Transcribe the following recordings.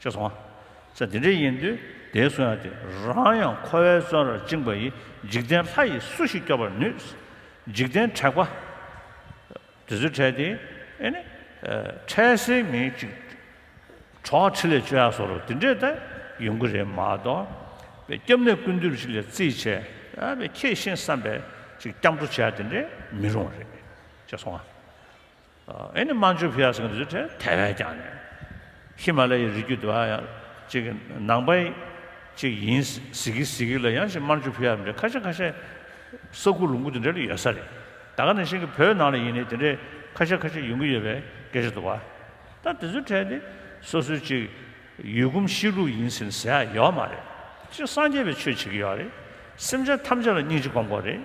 ཅེས་སོ། ཚེ་འདི་འདྲའི་ཡིན་དུས་དེའི་གསོན་ཡང་དེ་རང་ཡང་འཁོར་བའི་བཙོན་རར་བཅིངས་པ་ཡི་འཇིག་རྟེན་ལྷ་ཡིས་སུ་ཞིག་སྐྱོབ་པར་ནུས། འཇིག་རྟེན་དྲེགས་པ། དེ་ཚོའི་གྲས་དེ་ཨེ་ནི། འཕྲལ་སེལ་མི་གཅིག། གྲོགས་ཁྲི་ལས་བཅོལ་ཡག་སོགས་རུ་དེ་འདྲས་ད་ཡོང་གི་རེད་མ་གཏོགས། པའི་སྐྱབས་གནས་ཀུན་འདུས་ཞིག་ལས་རྩིས་བྱས་པའི་ཁྱེད་ཤེས་བསམ་པའི་ཅིག་སྐྱབས་འགྲོ་བྱས་ཡག་དེ་འདྲས་མི་རུང་བ་རེད། ཅེས་སོ། ཨེ་ནི་མན་ཇུ་བྷི་ཡ་སོགས་ཀྱི་འདུས་ཚོད་ཁྲོད་དེ་བས་ཀྱང་ནས་ཧི་མ་ལ་ཡའི་རི་རྒྱུད་དེ་བ་ཡང་གཅིག་གི་ནང་པ་གཅིག་ཡིན་གཟིགས་གི་གཟིགས་གི་ལ་ཡང་ཞིག་མན་ཇུ་བྷི་ཡ་འདྲའི་ཁ་ཤས་ཁ་ཤས་ས་ཁུག་ལུང་ཁུག་དེ་འདྲ་ལ་ཡོད་ས་རེད་ད་ག་ནས་ཤིག་གི་བོད་ནང་ལ་ཡིན་ནའི་དེ་འདྲའི་ཁ་ཤས་ཁ་ཤས་ཡོང་གི་ཡོད་པའི་སྐད་ཆ་དུ་བ་ད་དེ་ཚོའི་གྲས་དེ་སོ་སོའི་གཅིག་ཡུལ་གོམས་གཤིས་ལུགས་ཡིན་ཟེར་ནས་ཟེར་ཡག་ཡོད་མ་རེད་གཅིག་སངས་རྒྱས་པའི་ཆོས་བྱེད་གི་ཡོད་རེད་སེམས་ཅན་ཐམས་ཅད་ལ་སྙིང་རྗེ་སྒོམ་དགོས་རེད།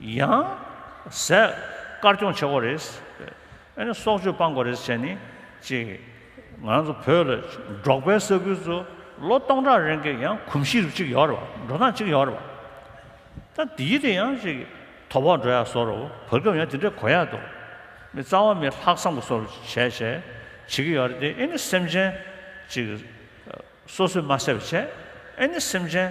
ཡང། ཟས། དཀར་སྐྱོང་བྱེད་དགོས་རེད། ཨ་ནི་སྲོག་གཅོད་སྤང་དགོས་རེད་ཟེར་ནི། གཅིག། ང་རང་ཚོ་བོད་ལ་འབྲོག་པའི་ས་ཁུལ་དུ་ལོ་སྟོང་ཕྲག་རིང་གི་ཡང་གོམས་གཤིས་རིགས་གཅིག་ཡོད་རེད་བ། འགྲོ་སྟངས་གཅིག་ཡོད་རེད་བ། ད་འདིའི་དེ་ཡང་གཅིག་དོ་བོག་འགྲོ་ཡག་སོགས་རེད་བ། བར་སྐབས་ཡང་དེ་འདྲས་གོ་ཡག་འདུག། མི་རྩ་བ་མི་ལྷག་བསམ་གོ་སོགས་བྱས་བྱས་བྱེད་ཀྱི་ཡོད་རེད་དེ་ཨེ་ནི་སེམས་ཅན། གཅིག། སོ་སོས་མ་བསད་པ་བྱས། ཨེ་ནི་སེམས་ཅན།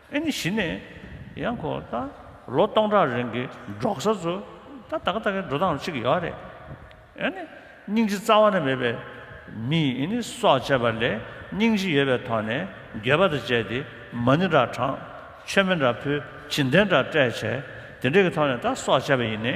ཨེ་ནི་གཞི་ནས་ཡང་ཁོ་ད་ལོ་སྟོང་ཕྲག་རིང་གི་འབྲོག་ས་ཚོ་ད་ད་ག་ད་གའི་འགྲོ་སྟངས་གཅིག་ཡོད་རེད། ཨེ་ནི་སྙིང་རྗེ་རྩ་བ་ནས་མེད་པའི་མི་ཡིས་ཨེ་ནི་སྲོག་བཅད་པ་ལས་སྙིང་རྗེ་ཡོད་པའི་ཐོག་ནས་འགྱོད་པ་དང་བཅས་ཏེ་མ་ཎི་འདྲ་དྲངས། མཆོད་མེ་འདྲ་ཕུལ་བྱིན་རྟེན་འདྲ་སྤྲད་བྱས་དེ་འདྲའི་གི་ཐོག་ནས་ད་སྲོག་བཅད་པ་ཡིན་ནི།